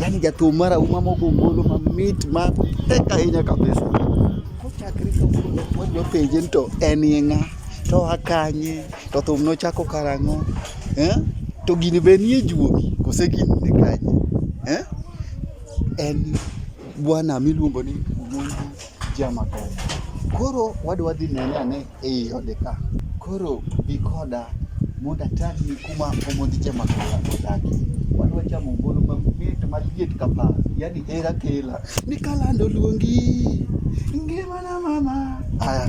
Yaani jato mara umama ugo ngolo ma mit ma tek ahinya kabisa. Kochakre kawuono wadwa penje ni to en ye ng'a? To oa kanye? To thum nochako karang'o? Eh? To gini be nie juogi kose gini ni kanye? Eh? En bwana miluongo ni Omonjo Jamakaya. Koro wadwa dhi nene ane ei ode ka. Koro bi koda mondo atang'ni kuma omodhi jama kola odakie. Wadwa chamo ngolo mamit maliet ka paa, yani hera kela. Ni kalando luongi, ngimana mama. Aya.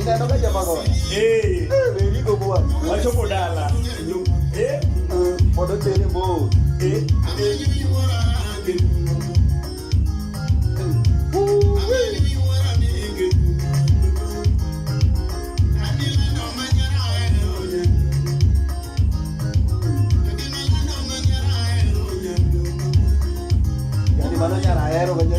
Inaondoka jamaa kwa. Eh. Very good boy. Wacho bodala. Eh. Bodo tele bo. Eh. Mano nyara hero kanya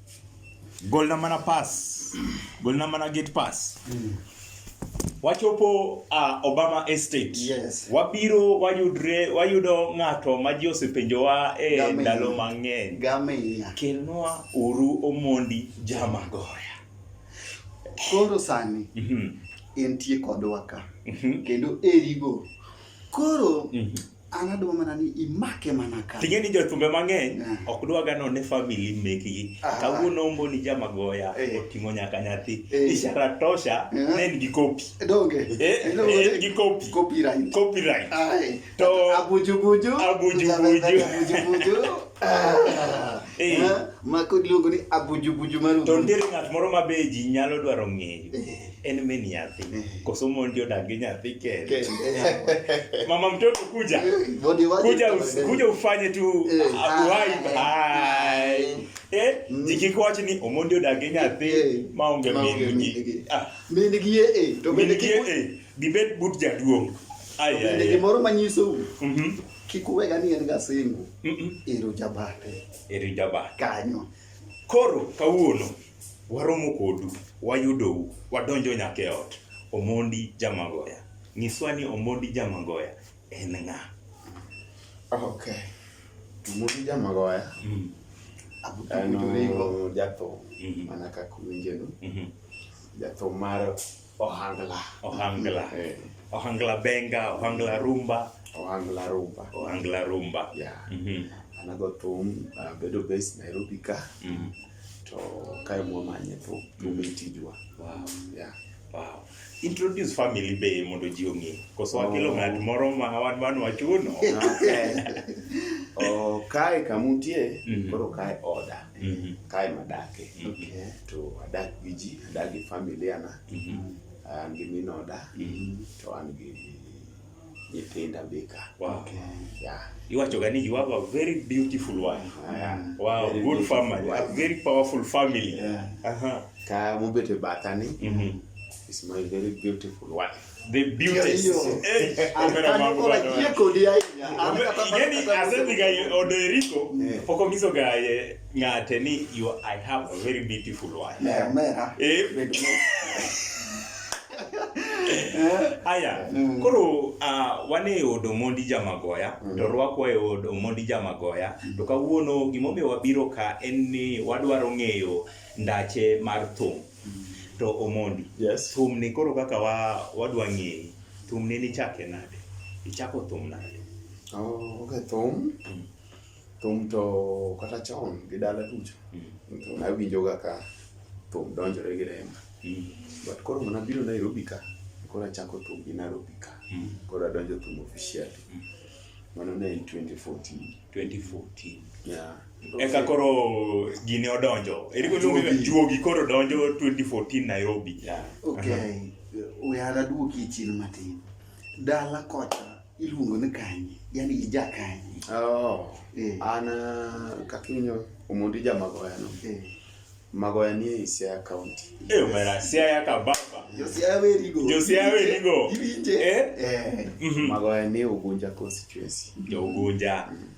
golna mana pass golna mana gate pass mm. wachopo uh, obama estate yes. wabiro wayudre wayudo ng'ato ma ji osepenjowa e eh, ndalo mang'eny kelnwa uru omondi jamagoya koro sani mm -hmm. entie kodwa ka mm -hmm. kendo erigo koro mm -hmm. an adwa mana ni imake mana ka ting'e ni jothumbe mang'eny ah. ok dwaga no ne famili mekgi ah. kawuono ombo ni jamagoya eh. oting'o nyaka nyathi eh. ishara tosha eh. ne en gi kopi en gi kopi copyright copyright to abuju buju abuju buju ah. ma kod luongo ni abuju buju maru to nitiere ng'at moro ma be ji nyalo dwaro ng'eyo en me nyathi koso mondi odag gi nyathi kende mama mtoto kuja kuja, kuja ufanye tu eh. uhai hai eh mm. jikikowacho ni omondi odag gi nyathi eh. maonge mingi ah. mingi eh to mingi eh gibed but jaduong' bende gimoro manyisou mhm. kik uwega ni en gasingo ero jabate ero jabate kanyo koro kawuono Waromo kodu, wayudou, wadonjo nyaka e ot. Omondi Jamagoya. Nyiswa ni Omondi Jamagoya en ng'a? Okay. Omondi Jamagoya mm. en jathum mm-hmm. mana kaka uwinjeno mm-hmm. jathum mar Ohangla. Ohangla. Eh. Ohangla Benga, Ohangla Rumba. Ohangla Rumba. Ohangla Rumba. Yeah. Mm -hmm. Anago thum uh, bedo base Nairobi ka. Mm -hmm. To kae mwamanye thum thum mm -hmm. itijwa. Wow. Yeah. Wow. Introduce family be mondo ji ong'e. Koso oh. wakelo ng'at moro ma wan wan wachuno. Okay. oh, kae kamutie mm -hmm. koro kae oda. mm-hmm. kae madake okay. to adak gi ji adak gi familia na mm-hmm. an gi minoda mm-hmm. to an gi nyithinda bika wow. okay. yeah. iwachoga ni you have a very beautiful wife yeah. wow very good family wife. a very powerful family yeah. uh -huh. ka mubete batani mm-hmm. is my very beautiful wife The beauties. Eh, kamera mambo bado. Yeni asemi ga odo Eriko, eh. poko miso ga ye ngate ni you I have a very beautiful wife. Yeah, mera. Eh. Aya, mm. koro uh, wane e od Omondi Jamagoya mm. to rwakwa e od Omondi Jamagoya mm. to kawuono gimomiyo wabiro ka en ni wadwaro ng'eyo ndache mar thum. To Omondi, Yes. thumni koro kaka wa wadwa ng'eyi, thumni nichake nade? Ichako thum nade? Oh, okay, thum. Mm. Thum to kata chon gi dala duto. Mm. Thum awinjoga ka thum donjore gi remba. Mm. But koro mana biro Nairobi ka, koro achako thum gi Nairobi ka. Mm. Koro adonjo thum officially. Mm. Mano ne en 2014. 2014. Yeah. eka koro gini odonjo eriko luonge juogi koro donjo 2014 Nairobi yeah. okay uh-huh. we are aduoki e chien matin dala kocha iluongo ni kanye yani ija kanye oh eh. an uh, kakinyo omondi jamagoya no eh. magoya ni e Siaya County. Eh, yes. Mera Siaya ka baba. Jo Siaya we rigo. Jo Siaya we rigo. Ibinje. Eh? Eh. Mm -hmm. Magoya ni Ugunja constituency. Jo Ugunja. Mm -hmm.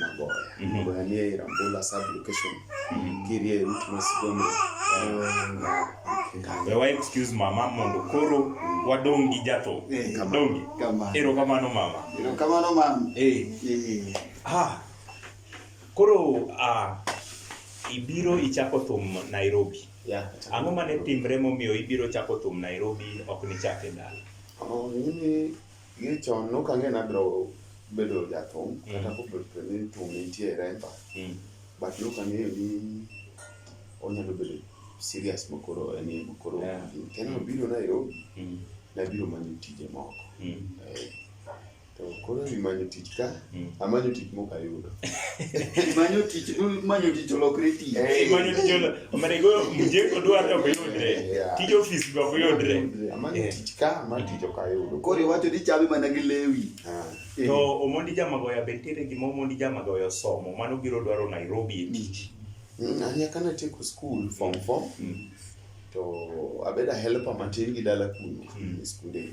Magoya. Mm -hmm. Magoya ni e Rambula sub location. Mm -hmm. Kirie mtu masigomo. Be wa excuse mama mondo koro wadongi jato. Eh, dongi. Ero kamano mama. Ero kamano mama. Eh. Eh. Ah. Koro ah ibiro ichako thum Nairobi. Yeah. Ang'o mane timre momiyo ibiro chako thum Nairobi ok nichake dala? Oh, mimi Gi chon no kang'e na bro bedo jathum mm. kata ko bedo ni thum nitie remba mm. but no kang'e ni onyalo bedo serious makoro en e makoro yeah. kendo obiro Nairobi mm. nabiro manyo tije moko mm. eh, to koro imanyo tich ka Mm. Amanyo tich mok ayudo. Manyo tich, manyo tich olokre tich. Eh, manyo tich olokre. Omene go mje odwar to yudre. Tij office go yudre. Amanyo eh. tich ka, man tich ok ayudo. Koro iwacho ni chame mana gi lewi. Ah. Eh. To Omondi Jamagoya be ntiere gima Omondi Jamagoya osomo mano biro dwaro Nairobi e tich. Mm, Anya kana tieko school form 4. Mm. To abeda helper matin gi dala kuno. Mm. Skunde.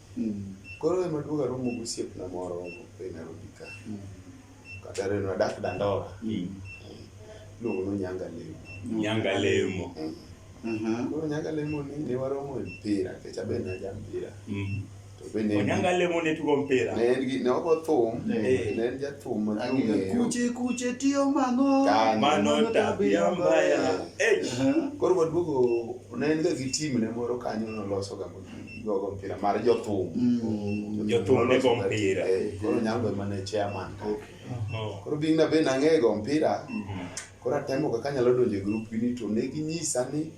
Mm. Koro ema duoga romo gi osiepna moro e Nairobi ka. Mm. Kata reno adak Dandora. Mm. Luongo no Nyanga Lemo. Nyanga Lemo. Mm. Mm-hmm. Koro Nyanga Lemo ni ne waromo e mpira, kech abe na ja mpira. Mm. To be ne Nyanga Lemo ne tugo mpira. Ne en gi ne ogo thum, ne en ja thum ma tugo. Kuche kuche tiyo mango. Mano tabia mbaya. Eh. Koro waduogo ne en ga gi team ne moro kanyo noloso ga jogo mpira mar jothum mm. jothum ne go mpira eh, koro nyango ema ne chairman oh. koro bing na be nang'eyo go mpira mm-hmm. koro atemo kaka anyalo donjo e grup gini to ne ginyisa ni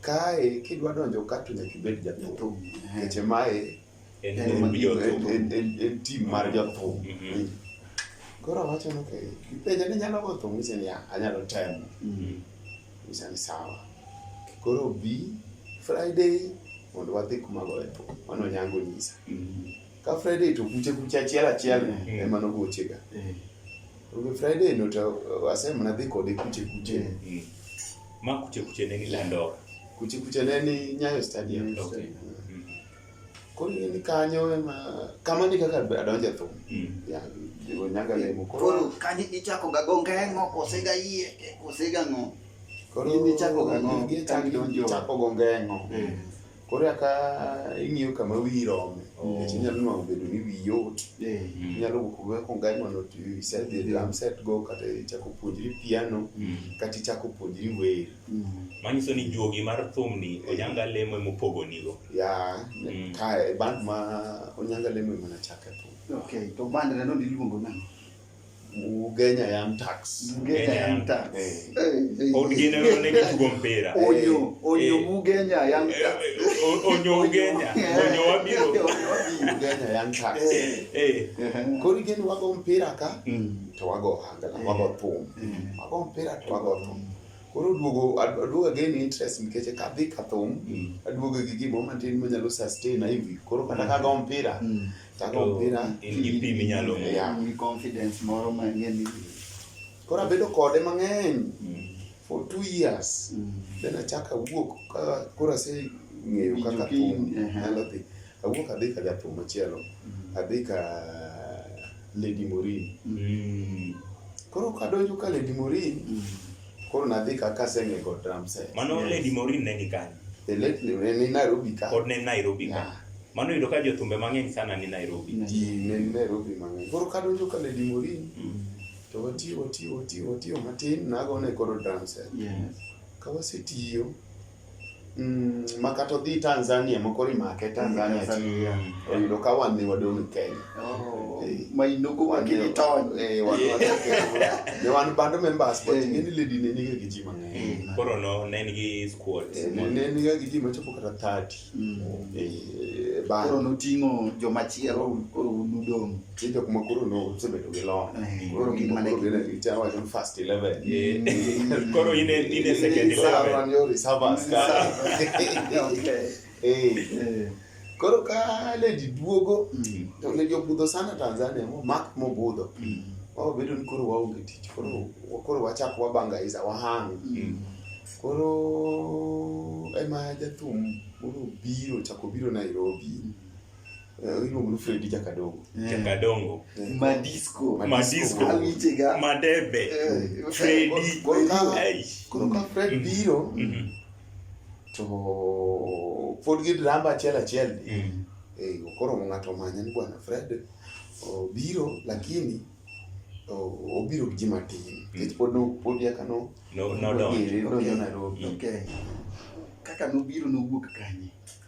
kae kidwa donjo ka to nyaka ibed jathum keche mae en tim mar jothum mm-hmm. koro awacho ni okay ipenja ni nyalo go thum ise niya anyalo temo mm-hmm. Nyisa ni sawa. Koro bi Friday mondo wadhi kuma goye po. Mano nyango nyisa. Ka Friday to kuche kuche achiel achiel mm. ema nogochega. Mm. Obe Friday no to asem na dhi kode kuche kuche. Mm. mm. Ma kuche kuche ne ni Landora. Kuche kuche ne ni Nyayo Stadium. Okay. Mm. Koro in kanyo ema kamano e kaka adonjo e thum. Yeah, jiwo nyaga lemo koro. Koro kanyo ichako ga go ngeng'o kose ga yie kose ga ng'o. Koro In ichako ga ng'o gi ka idonjo. Chako go ngeng'o. Mm. Koro aka ing'iyo kama wiyi rome. Oh. Nikech inyalo nwang'o bedo ni wiyi yot. Eh. Inyalo wuok go ko ngeng'o no to you set the drum set go kata ichako puonjri piano kata ichako puonjri wer. Mm. Manyiso ni juogi mar thumni Ojanga Lemo emopogonigo. ya Mm. kae band ma onyanga lemo ema nachake po Okay, to band na no diluongo nang'o? ugenya yam tax Mugenya Young Tax. Eh. Eh, eh, Pod eh. gin ero ne gitugo mpira. Onyo, onyo Eh. Mugenya Young Eh, Tax. eh, o- Onyo Ugenya, onyo wabiro. Onyo wabiro. ugenya yam tax Eh. Eh. Eh. koro igeni wago mpira ka Mm. to wago ohangla wago thum wago mpira to wago thum Koro duogo aduoga gain interest nikech kadhi kathum mm. aduoga gi gimo matin manyalo sustain hivi. Koro kata mm. kago mpira mm. kago mpira in gi pim inyalo yeah. ni confidence moro mang'eny ni. Koro abedo kode mang'eny for two years then achaka wuok koro ase ng'eyo kaka thum nyalo dhi. Awuok adhi ka jathum machielo, mm. adhi ka Lady Morin. Mm. Koro kadonjo ka Lady Morin, mm. koro nadhi ka kasenge kod drum set. Mano yes. Lady Morin ne ni kanye? The late ni Nairobi ka. Pod ne Nairobi ka. Yeah. Mano yudo ka jothumbe mang'eny sana ni Nairobi. Ji ne Nairobi mang'eny. Koro kadonjo ka Lady Morin, mm. to watiyo watiyo watiyo watiyo matin nagone koro drum set. Yes. Ka wasetiyo, Mm, ma kata odhi Tanzania moko rimake Tanzania Tanzania. ti- oyudo ka wan ne wadong' Kenya. Oh, Eh. ma inoko wakili tony Eh, wan- wan- ne wan band members but Eh. ng'eni lady ne niga gi ji mang'eny. Eh, Koro no ne en gi squad. Eh, ne- ne niga gi ji machopo kata 30. mm. Eh, band. koro noting'o jomachielo koro unudong' Ni jok ma koro nosebedo gi lony. Eh, koro gin mana gi chawa ni first 11. Mm. Eh, koro in in a second 11. Wan yo reservers ka. Okay. Eh. eh. Koro ka le duogo mm. to le jobudho sana Tanzania mo mak mo budho. Mm. Wao bedo ni koro waonge tich. Koro koro wachak wabanga iza wahang. Koro ema jathum koro biro chako biro Nairobi. Eh, iluongo ni Fredi Jakadongo. Eh. Jakadongo. Eh. Madisco. Madisco. Awichega. Madebe. Fredi. Koro ka Fred mm-hmm. biro mm-hmm. to pod gi drama achiel achiel ni. Mm-hmm. Eh, koro ng'ato manya ni bwana Fred obiro lakini obiro gi ji matin. Nikech pod no pod yaka no. No no no. Nodonjo Nairobi. Kaka nobiro nowuok kanye?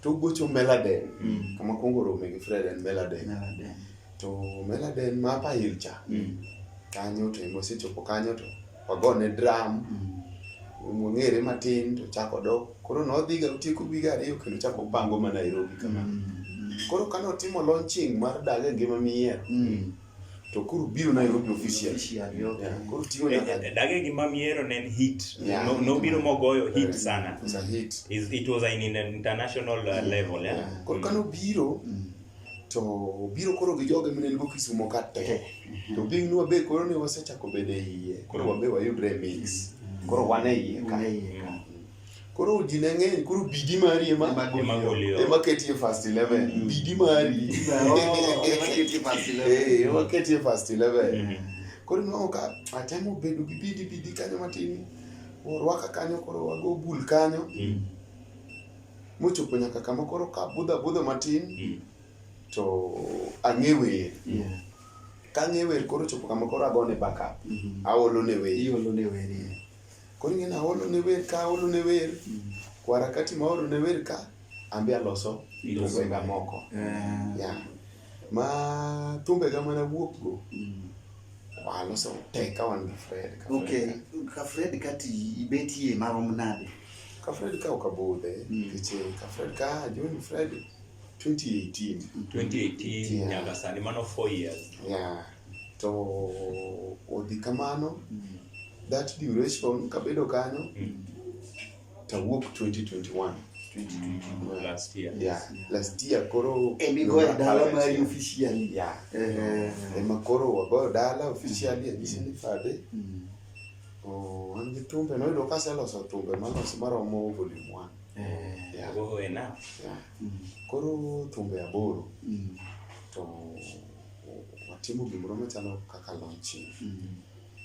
to gocho meladen mm. kama kwongo rome gi fred en meladen to meladen ma pail cha mm. kanyo to ema osechopo kanyo to wagone dram mm. wang'ere matin to chako dok koro nodhiga otieko wiga ariyo kendo chako pango ma nairobi kama koro kane otimo launching mar daga ngima miyiero to koro biro Nairobi official koro tiyo eh, eh, dage gima miero ne en hit yeah. no, no biro mogoyo hit sana it was a hit it, it was an international uh, level yeah. yeah. koro kano mm. biro mm. to biro koro gi joge mine lugo kisumo ka te eh. to bing nwa be koro ne wasechako bede iye koro wabe wayudre mix mm. koro wane iye ka koro ji ne ng'eny koro bidi mari ema ema ketie first 11 mm. bidi mari ema ketie first 11 koro nwango ka atemo bedo gi bidi bidi kanyo matin orwaka kanyo koro wago bul kanyo mm. mochopo nyaka kama koro ka budho budho matin mm. to ang'e wer kang'e wer koro chopo kama koro agone backup mm-hmm. aolo ne wer Koro ing'e naolo ne wer ka aolo ne wer kwara kati ma aolo ne wer ka an be aloso thumbega moko eh. ya ma thumbega mana wuok go mm. aloso te ka wan gi Fred okay ka Fred kati ibetie marom nade ka Fred ka ok abudhe mm. nikech eh, ka Fred ka join Fred 2018 2018 nyaka sani mano 4 years yeah to odhi kamano that duration kabedo kanyo tawuok 2021 2022 last year yeah last year koro Emigoyo dala mari officially. yeah Eh, ema koro wagoyo dala officially anyisi ni fade mm, Oh, an gi thumbe noyudo ka aseloso thumbe malos maromo volume one eh, Yeah, Oho, enough. yeah. mm, Koro thumbe aboro mm. to watimo gimoro machalo kaka launching mm.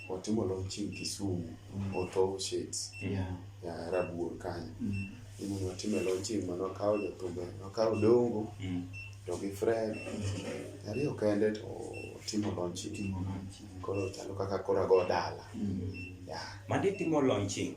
watimo launching Kisumu mm. Otho Shades yeah. ya Rabuor kanyo mm. Imu watime launching mano wakawo jothumbe wakawo dongo mm. to gi Fred mm. ariyo kende to timo launching koro chalo kaka koro ago dala mm. yeah. Madi timo launching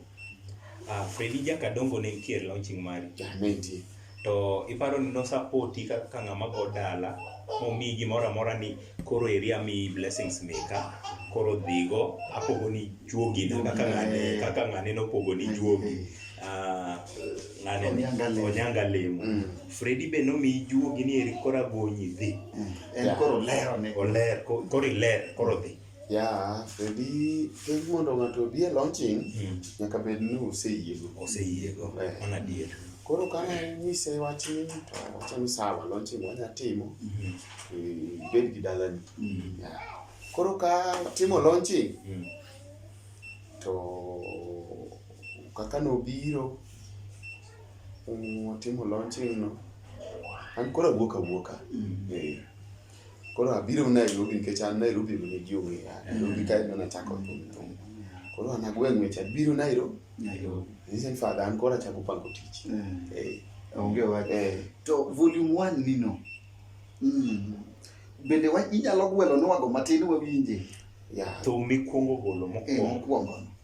Ah, Fredi Jakadongo ne nitie e launching mari. Nitie. To iparo ni nosapoti ka ka ng'ama go dala momiyi gimoro amora ni koro eri amiyi blessings meka koro dhigo apogoni juogi na kaka ng'ane kaka ng'ane nopogoni juogi Ah, ng'ane ni Onyanga lemo. onyanga lemo Mm. Fredi be nomiyi juogi ni eri koro agonyi dhi En koro lero ne. oler ko- koro iler koro dhi Yeah, ready. Kendo mondo ng'ato obi e launching, mm. nyaka bed ni oseyiego. Oseyiego. Eh. Mano adier. Koro ka nyise wachni to wacho ni sawa, launching wanya timo. Mm-hmm. Eh, bed gi dalani. Mm. Koro ka timo launching mm. to kaka nobiro mm, timo launching no, an koro awuok awuoka. Eh. Koro abiro Nairobi nikech an Nairobi be nigi ong'e ya. Nairobi kae ema nachako thum thum. Koro an agwe ng'wech abiro Nairobi. Nairobi. Nise ni fadha an koro achako pango tich. Mm. Eh, Onge wach. eh. To volume 1 nino. Mm. Bende wa inyalo gwelo nwago matin wawinje. Ya. Thum mikwongo golo Eh, mokwongo. mokwongo.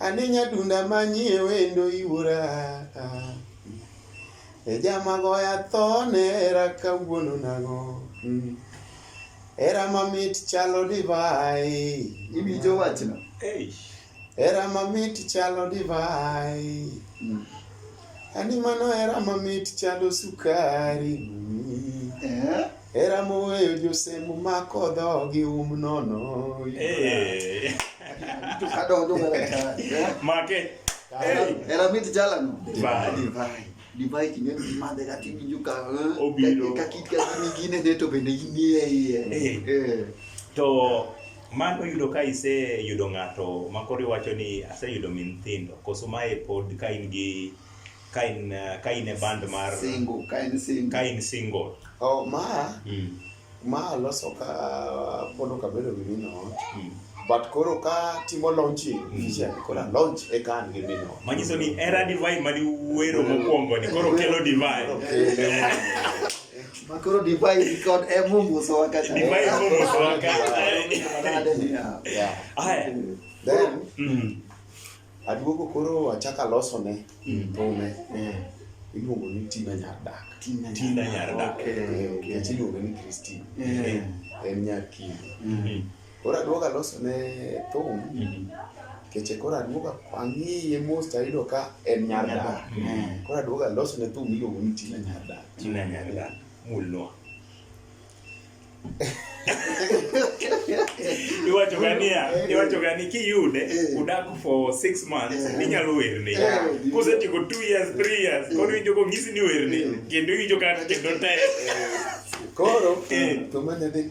Ane nyadunda manyie wendo iwuora E jama goya thone era kawuono nang'o mm. Era mamit chalo divai Iwinjo wachno? Era mamit chalo divai mm. Ani mano hera mamit chalo sukari Eh? hera moweyo josemo mako dhogi um nono Eh, To kadonjo mana ka. eh? Make. Era, era mit jalano. Divai. Divai. Divai king'e ni madhe kata iwinjo ka eh, Obiro. ka- ka kit ka gini gine ne to bende inie iye. Eh. Eh. To Mano yudo ka iseyudo ng'ato ma koro iwacho ni aseyudo min thindo koso mae pod ka in gi ka in ka in e band mar single ka in single ka in single oh ma mm. ma loso ka pono ka bedo gi mino mm. but koro ka timo launching mm. vision mm. kora launch e kan gi mino manyiso ni era divine mali wero mokwongo ni koro kelo divine okay. Makoro divai record eh, Mungu so wakati. Divai Mungu so wakati. Yeah. Haya. Then. Mm. Aduogo koro achaka loso ne. Mm. Tome. Mm. Iluongo ni Tina Nyardak. Tina Nyardak. Okay. Okay. Iluongo ni Christine. Yeah. En nyar Kivu. Mm. Koro aduogo aloso ne thum mm-hmm. keche koro aduogo ang'iye mos to ayudo ka en nyar dak. Mm-hmm. Koro aduogo aloso ne thum miluongo ni Tina nyar dak. Tina nyar dak. Mulwa. iwacho ga niya iwacho ga ni kiyude eh. udak for six months eh. inyalo werne eh. kosetieko two years three years koro iwinjo kong'isi ni werne kendo iwinjo ka kendo te koro to manyadhi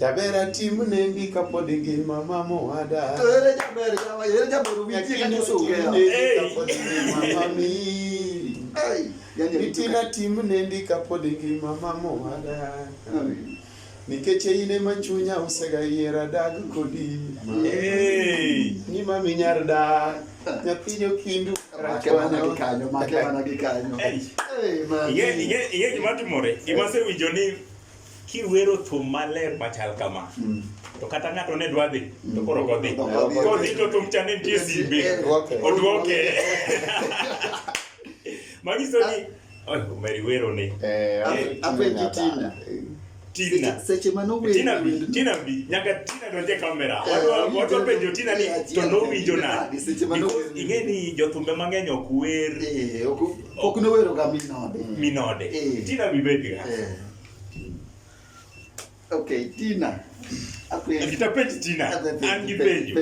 Jaber atim nendi kapod ngima mama owada. To ere jaber jawa, ere jaber ubitie ka nyoso ugera. Kapod ngima mami. Itina tim nendi kapod ngima mama owada. Nikech in ema chunya osega yiera dag kodi. Ni mami nyar dak. Nyathino kindu. Make mana gi kanyo, make mana gi kanyo. Iye iye iye gima timore, gima sewinjo ni kiwero thum maler machal kama mm. to kata ng'ato ne dwa dhi to koro mm. kodhi kodhi to thum cha ne nitie simbe odwoke manyiso ni omeri wero ni eh, eh, apenji tina Tina. Seche ma no winjo. Tina bi, Tina bi. Nyaka Tina donje e kamera. Eh, watu watu penjo Tina ni to no winjo na. Seche ma no winjo. Ing'e ni jothumbe mang'eny ok wer. Eh, ok ok no wero ga minode. Minode. Tina bi bedi ga. Okay, Tina. Akitapeji Tina. An gi penjo.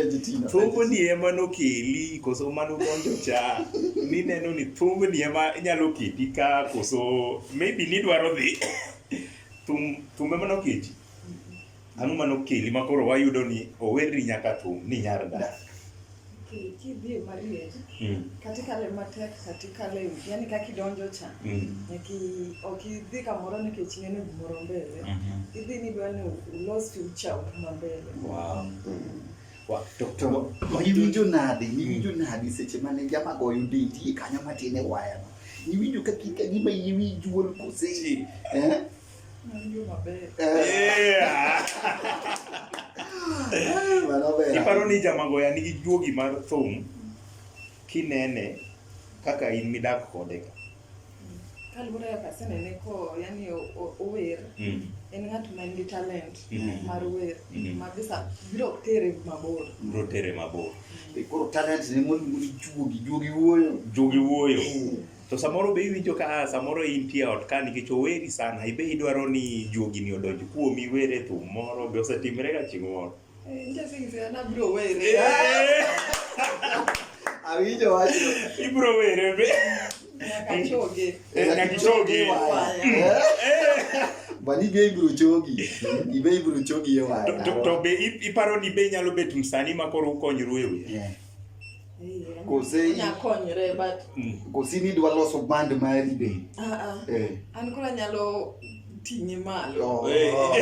Thumbo ni ema nokeli koso mano donjo cha. Ni neno ni thumbo ni ema inyalo keti ka koso maybe ni dwaro dhi. Thum thumbe mano keti. Ang'o ma nokeli ma koro wayudo ni owerni nyaka thum ni nyar dak? ki- kidhi e mariej Mm. katikale matek katikale yani kaka idonjo cha Mm. nyaki ok idhi kamoro nikech ineno gimoro mbele Mhm. idhi ni dwa ni ulos future u mambele Wow. Wa- to- to- To wa- niwinjo nade, niwinjo nade seche mane jama goyo denti kanyo matin e wayano? Niwinjo ka kika gima iwi juol kose? Chi. Eh? Iparo ni jamagoya nigi juogi mar thum kinene kaka in midak kode ka. Kaluwore kaka asenene ko yani ower mm. en ng'at ma nigi talent mm. mar wer mm. ma bisa biro tere mabor. Biro tere mabor. Koro talent ne mondo juogi juogi wuoyo. Juogi wuoyo. To samoro be iwinjo ka ah, samoro intie ot ka nikech oweri sana, ibe idwaro ni juogi ni odonj kuomi were thum moro be osetimre ga chieng' moro. Awinjo wacho. Ibro were be. Nakachoge. Nakachoge. Bali be ibro chogi. Ibe ibro chogi e waya. To be iparo ni be nyalo bet msani ma koro ukonyoru e wiye. Kose nya konyre but mm. kose ni dwa loso band mari be. Ah ah. Eh. An kula nyalo ting'e malo. Oh, eh. oh.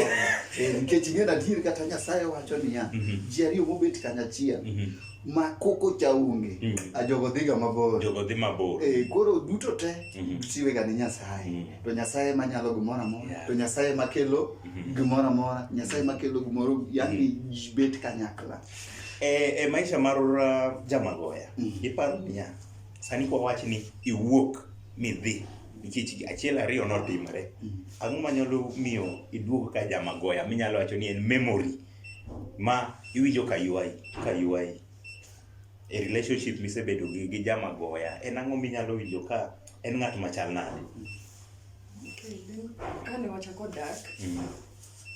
Eh, nikech ing'e adier kata Nyasaye wacho niya, mhm. ji ariyo mobet kanyachiel mhm. ma koko cha onge mm. a jogo dhiga mabor jogo dhi mabor e, koro duto te mm -hmm. siwega ni nyasaye mm -hmm. to nyasaye manyalo gimoro amora yeah. to nyasaye makelo mm -hmm. gimoro amora nyasaye makelo gimoro yani mm -hmm. bet kanyakla E, e maisha mar uh, jamagoya mm. iparo niya sani kwa wach ni iwuok midhi nikech achiel ariyo notimre mm. ang'o manyalo miyo iduog ka jamagoya minyalo wacho ni en memory ma iwinjo ka ywayi ka ywayi e relationship misebedo gi, gi jamagoya en ang'o minyalo winjo ka en ng'at machal nade okay, then, kane wachako dak mm.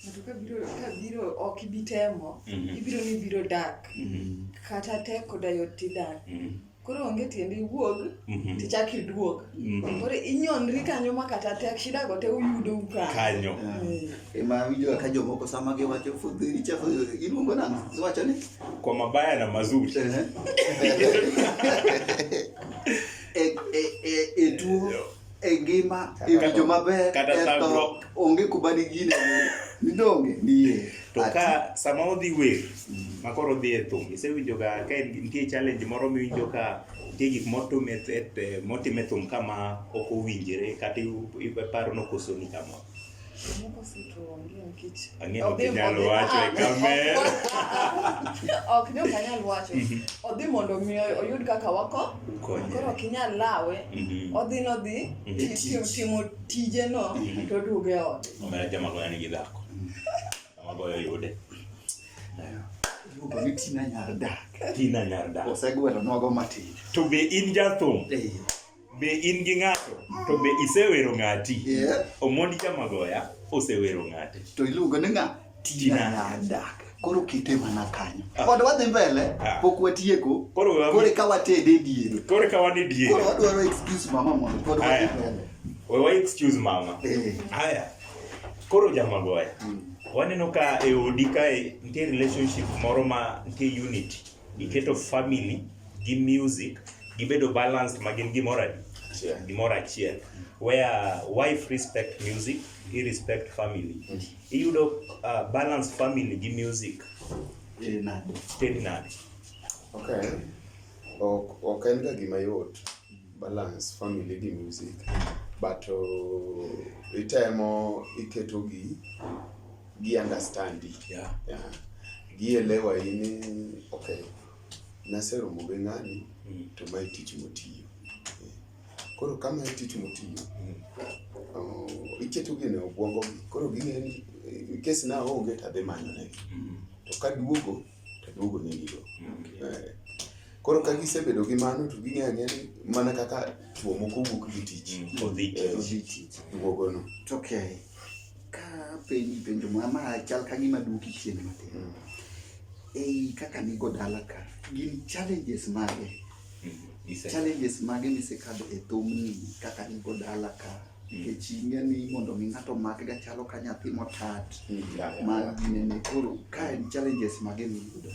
ng'ato ka biro ka biro ok ibi temo Mhm. ibiro ni ibiro dak Mhm. kata tek koda yot tidak Mhm. koro onge tiende iwuog Mhm. tichak iduog Mhm. koro inyonri kanyo ma kata tek shidago te uyudo ukanyo kanyo Eh, ema winjo ka jomoko sama giwacho fudhi ichafu iluongo nang'o iwacho ni kwa mabaya na mazuri e, e, e, e tuo e ngima e winjo maber eto onge kuma digine midonge nie to ka sama odhi wer ma koro odhi e thum isewinjoga ka nitie challenge moro miwinjo ka nitie gik motime thum kama ok owinjore kata iparo ni okosoni kama Ang'e ok inyal wacho e kamer. ok ni ok anyal wacho mhm. odhi mondo mi oyud kaka wako koro ok inyal lawe mhm. odhi nodhi mhm. timo tijeno to oduoge ot omera jama goya nigi dhako jama goya yude iluongo ni tina nyar dak tina nyar dak osegwelo nogo matin to be in jathum be in gi ng'ato to be isewero ng'ati Yeah. omondi jamagoya osewero ng'ate To iluongo ni ng'a? Tina. Nyanda. Koro kite mana kanyo. Ah. Pod wadhi mbele, Ah. pok watieko. Koro we wami- Koro eka watede diere. koro ka wan e diere Koro wadwaro excuse mama mondo pod wadhi Aya. mbele. we wa excuse mama Eh. haya koro jamagoya Mm. waneno ka e odi kae nitie relationship moro ma nitie unity Giketo family gi music gibedo balanced ma gin gimoro adi? Achiel. Gimoro achiel. Where wife respect music, he respect family. Iyudo uh, balance family gi music Eh, nani? ted nade? Okay. Ok ok en ga gima yot balance family gi music but uh, itemo iketogi gi understand yeah. yeah. gielewa ini okay naseromo gi ng'ani mm. to mae tich motiyo koro kama e tich motiyo mm. oh, iketo gine obwongo gi koro ging'eni kes na onge to adhi manyo negi mm. to ka duogo to duogo negigo okay. eh, Koro ka gisebedo gi mano to ging'e ang'e ni mana kaka chwo moko wuok gi tich. Mm. Odhi tich. Eh, Duogono. Okay. ka penji penjo ma ma chal ka gima duoki chien matin ei kaka nigo dala ka gin challenges mage Ise- challenges mage misekadho e thumni kaka nigo dala ka nikech ing'e ni mondo mi ng'ato makga chalo ka nyathi motat Yeah, yeah, ma yeah. ginene koro ka en challenges mage miyudo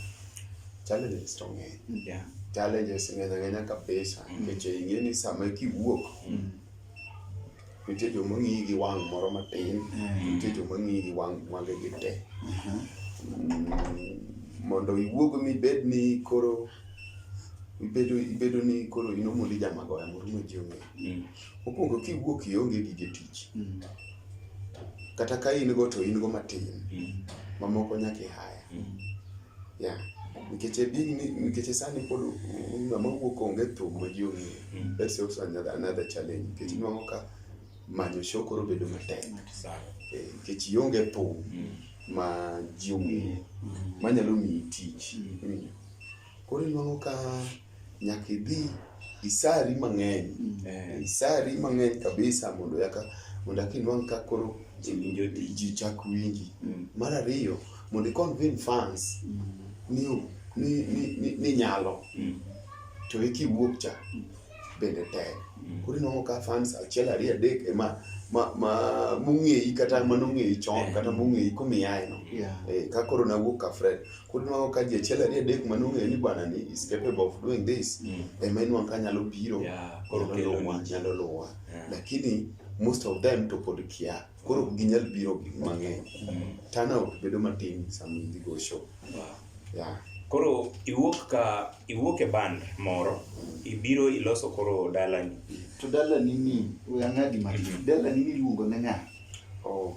challenges to ng'eny Yeah. challenges ng'eny ang'enya kabisa nikech ing'e ni sama kiwuok nitie joma ng'iyi gi wang' moro matin nitie joma ng'iyi gi wang' wangegi te mondo iwuog mibed ni koro ibedo ibedo ni koro in omondi jamagoya moro ma ji ong'eyo mokwongo kiwuok ionge gige tich kata ka in go to in go matin mamoko nyaka ihaya Yeah. Nikech e din ni nikech sani pod ng'ama wuok onge thum ma ji ong'eyo. Mm. That's also another, another challenge. Nikech inuang'o ka manyo show koro bedo matek. Eh, Nikech ionge thum mm. ma ji ong'eyo. Mm. Manyalo miyi tich. Mm. Koro inuang'o ka nyaka idhi isari mang'eny mm. eh, isari mang'eny kabisa mondo yaka mondo aka inwang' ka koro ji chak winji mm. mar ariyo mondo iconvin fans mm. ni, ni, ni, ni, ni nyalo mm. to eki wuok cha mm. bende tek mm. koro inwang'o ka fans achiel ariyo adek ema ma, ma mong'eyi kata manong'eyi chon eh. kata mong'eyi kumiyaeno yeah. eh, ka koro nawuok ka fred koro nwago ka ji achiel ariyo adek ma nong'eyo ni bwana ni is capable of doing this Mm. ema inwang' ka nyalo biro Yeah, koro nyalo kelo luwa ni. nyalo luwa Yeah. lakini most of them to pod kia koro ok ginyal biro gi mang'eny Mm. turnout bedo matin sama idhi go show Wow. yeah. koro iwuok ka iwuok e band moro ibiro iloso koro dalani to dalani ni we ang'adi matin dalani ni iluongo ne ng'a oh.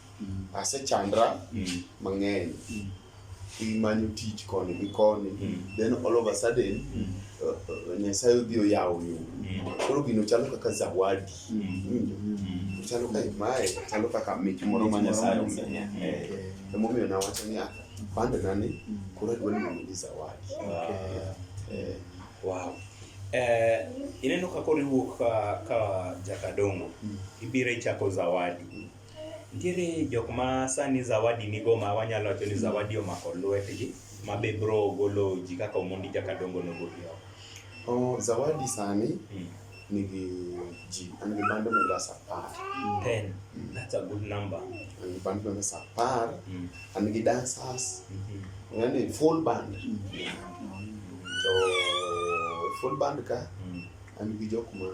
asechandra mang'eny imanyo tich koni gi koni mm. then all of a sudden mm. uh, uh, nyasaye odhi oyawo yo mm. koro gino chalo kaka zawadi chalo ka imaye chalo kaka mich moro ma nyasaye omiya eh, emomiyo nawacho ni ah, pande nani koro adwa luongo ni zawadi eh. wow eh, ineno ka koriwuok ka jakadongo ibiro ichako zawadi Nitiere jok ma sani zawadi nigo ma wanyalo wacho ni zawadi omako lwetgi ma be bro golo ji kaka Omondi kaka dongo nogoli oko. Oh, zawadi sani Mm. nigi ji an gi band members apar Ten. That's a good number. an gi band members apar Mm. an gi dancers Mhm. yani full band to full band ka Mm. an gi jok ma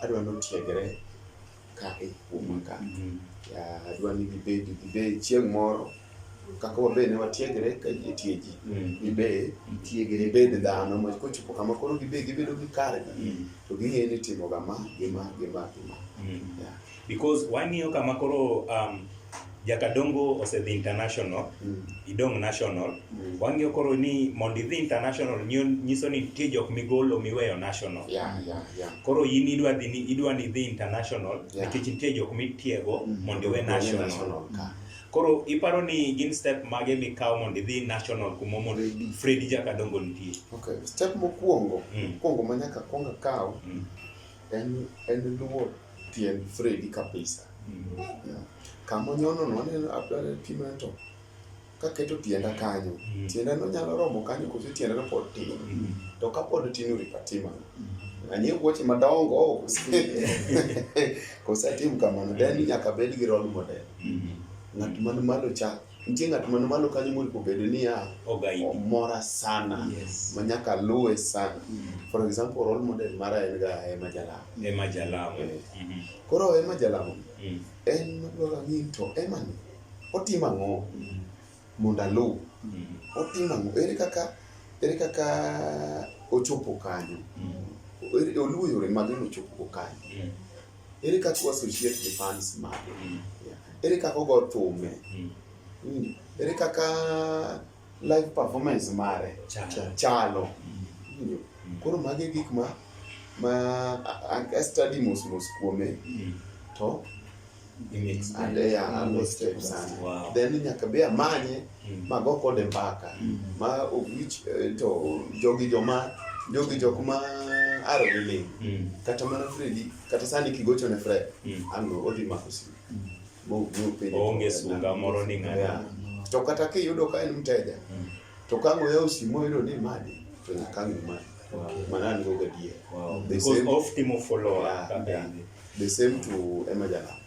adwa ni otiegre ka e kuoma ka. Ya, Adwa ni gibed gibed chieng' moro kaka wabe ne watiegre ka ji tie ji gibe tiegre gibed dhano ma kochopo kama koro gibe gibedo gi kargi to ging'eyo ni timoga ma gi ma gi ma gi ma. Ya. because wang'iyo kama koro um, jakadongo osedhi international mm. idong national mm. wang'iyo koro ni mondo idhi international nyiso ni nitie jok migolo miweyo national yeah, yeah, yeah. koro in idwa dhi ni idwa ni idhi international nikech yeah. nitie jok mitiego mm. mondo iwe national, national. Mm. koro iparo ni gin step mage mikawo mondo idhi national kuma mondo Fredi jakadongo nitie okay. step mokwongo mm. mokwongo ma nyaka kwonga kawo mm. en en luwo tiend Fredi kabisa. Yeah. Kama onyono no aneno abdala pima to kaketo tienda kanyo Mm. tienda no nyalo romo kanyo koso tienda no pod tin Mm. to ka pod tin oripatima anie wuoche madongo kosatim kamano then nyaka bed gi role model Mm. ng'at man malo cha Nitie ng'at man malo kanyo monego obed niya Ogaidi. omora sana Yes. ma nyaka luwe sana. Mm. For example, role model mara en ga Emma Jalamo. Ema jalamo. Mhm. Koro Emma Jalamo Mm. en madwaro ang'e to Emma ni otimo ang'o Mm. mondo aluw? Mm. Otimo ang'o? Ere kaka ere kaka ochopo kanyo? Mm. Ere- Oluwo yore mage mochopo kanyo? Mm. Ere kaka wassociate gi fans mage? Ere kaka ogo thume? Hmm. Hmm. Ere kaka live performance mare chalo? Hmm. Koro mage gik ma ma a study mos mos kuome to ande ya ando step sana then nyaka be amanye mm. ma go kode mbaka mm. ma owich eh, to jogi joma jogi jok ma aro gi ling mm. kata mana Fredi kata sani kigocho ne Fred mm. an go odhi mako simu mm. mo mo pe onge sunga moro ni ng'ato yeah. to kata kiyudo ka en mteja mm. to ka ngoya osimo yudo ni madi to nyaka ng'e madi wow. mana an go gadier wow. the same of timo follow up yeah, yeah. the same to Emma Jalapa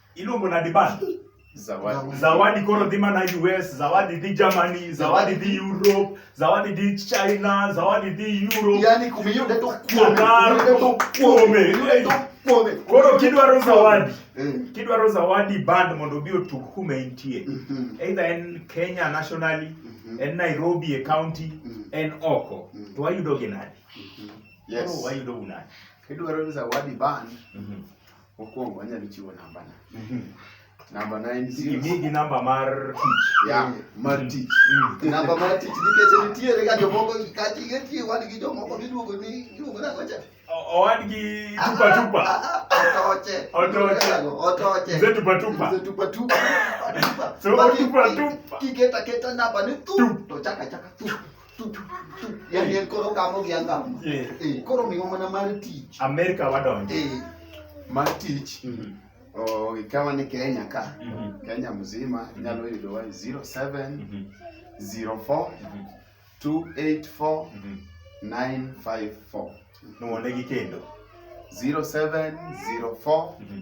Iluongo na diban. Zawadi. Zawadi koro dhi mana US, zawadi dhi Germany, zawadi dhi Europe, zawadi dhi China, zawadi dhi Europe. Yaani kumeyude to kuome. Kumeyude to kuome. Kumeyude to kuome. Koro kidwaro zawadi. Eh. Kidwaro zawadi band mondo obi otug kuma intie. Mhm. Either en Kenya nationally, mhm. en Nairobi e county, mhm. en oko. To wayudo gi nadi? Yes. Koro wayudo unadi. Kidwaro zawadi band. Mhm. Mokwongo anyalo chiwo namba na. Namba na en zero. Imigi namba mar tich. Ya, mar tich. Namba mar tich nikech nitiere ga jomoko kati geti wan gi jomoko miluongo ni iluongo nang'o cha? O- Owadgi tupa tupa. Otoche. Otoche. Otoche. Mzee tupa tupa. Mzee tupa tupa. Tupa tupa. So, Baki- tupa tupa. Kiketa keta namba ni tu Tup. to chaka chaka tu. yani en koro gamo gi angamo Eh. Eh, koro miwa mana mar tich Amerika wadonjo. Eh, mar tich Mhm. oh, ikawa ni kenya ka Mhm. kenya mzima inyalo yudowa 07 Mhm. 04 Mhm. 284 Mhm. 954 Nuwonegi kendo. 07 04 Mhm.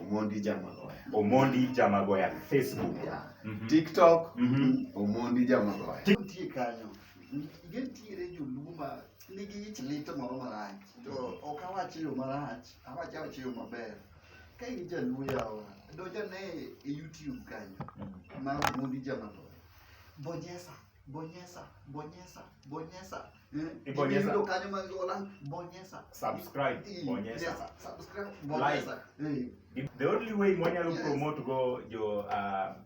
Omondi Jamagoya. Omondi Jamagoya Facebook. Yeah. Mm -hmm. TikTok mm -hmm. Omondi Jamagoya. Nitie kanyo. Nitiere joluma nigi ich lit moro marach. To ok awach yo marach, awach awach yo maber. Ka in jaluo yawa, donjane e YouTube kanyo. Mm. Mar Omondi Jamagoya. Bonyesa. bonyeza bonyeza bonyeza eh, Ibonyeza. ndio kanyo mangola bonyeza subscribe Eh, bonyeza yes, subscribe bonyeza eh Gi- the only way mwanyalo Yes. promote go jo uh,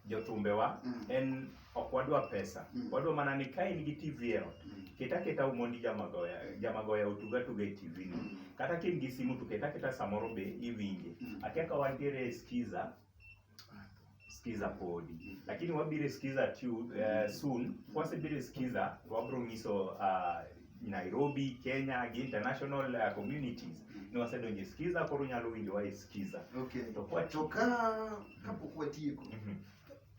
jothumbewa Mm. en ok wadwa pesa Mm. wadwa mana ni ka in gi tv e ot Mm. ket aketa umondi jamagoya jamagoya otug atuga e tv no Mm. kata ka in gi simu to ket aketa samoro be iwinje Mm. akia ka wantiere e skiza sikiza podi mm. lakini wabire sikiza tu uh, eh, soon wasibire sikiza wabro ngiso uh, ah, Nairobi, Kenya, gi international uh, communities mm. ni wasedonje sikiza koro nyalo winjo wae sikiza okay. to kwa to ka kapo kwa tieko mm -hmm.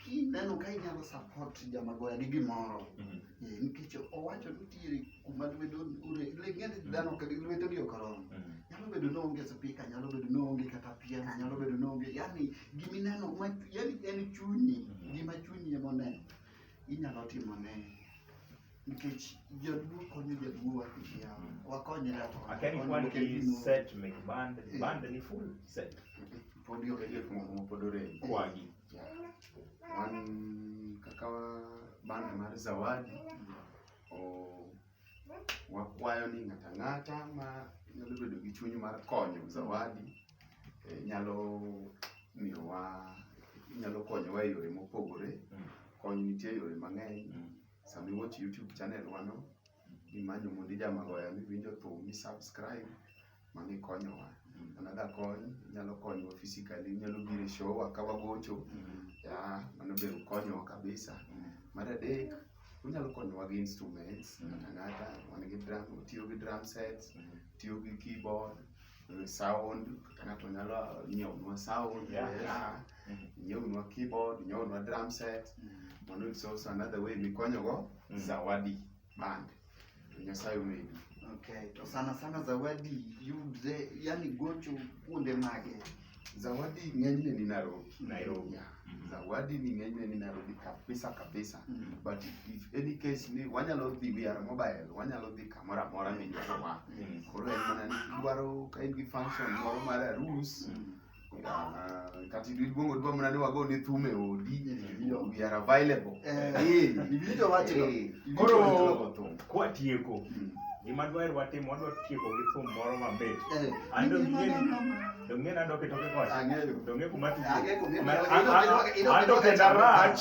kineno ka inyalo support jamagoya gi gimoro mm -hmm. Eh, nikech owacho ni nitiere kuma lwedo ng'eni dhano lwetegi ok oromo mm. nyalo bedo ni onge spika nyalo bedo ni onge kata piano nyalo bedo ni onge yani gimineno yani en chunyi mm. gima chunyi ema oneno inyalo timo ne nikech jaduo konyo jaduo wakishi yao mm. wakonyre to akeni kwan ki set mek band eh. band ni full set podi okeje kuma kuma podore kwagi wan kaka band mar Zawadi wakwayo ni ng'ata ng'ata ma nyalo bedo gi chuny mar konyo Zawadi eh, nyalo miyowa nyalo konyowa e yore mopogore. Mm. Kony nitie e yore mang'eny. Mm. Sama iwatch YouTube channel wano, imanyo Mundi Jamagoya miwinjo thum, i subscribe mano ikonyowa. Another kony, inyalo konyowa physically, inyalo biro e show wa ka wagocho, yeah, mano be konyowa kabisa. Mar adek, unyalo konyowa gi instruments, ng'ata ng'ata man gi drum, otiyo gi drum sets, otiyo gi keyboard, eh, sound, kata ng'ato nyalo nyiewonwa sound, Yeah. yeah, nyiewonwa keyboard, nyiewonwa drum set, mano it's also another way mikonyogo zawadi. bank to Nyasaye omedi. Okay, to sana sana zawadi yudre, yani gocho kuonde mage? Zawadi ng'enyne ni Nairobi. Nairobi. Yeah. Zawadi ni ng'enyne ni Nairobi kabisa kabisa. Mm. But if any case ni wanyalo dhi we are mobile, wanyalo dhi kamoro amora midwarowa. Yes. Koro en mana ni kidwaro ka in gi function moro mar arus, Mm. Ah, kati iluongo dwa mana ni wago ni thum e odi we are available Eh, Eh, iwinjo wachno? eh, Koro- iwinjo wachno go thum. kwatieko Mm. gima dwaher watim wadwa tieko gi thum moro mamit Eh, ando ng'eni to ng'eni ando kitoke kocha ang'eyo. to ng'e kuma Ang'e kuma- ando kenda rach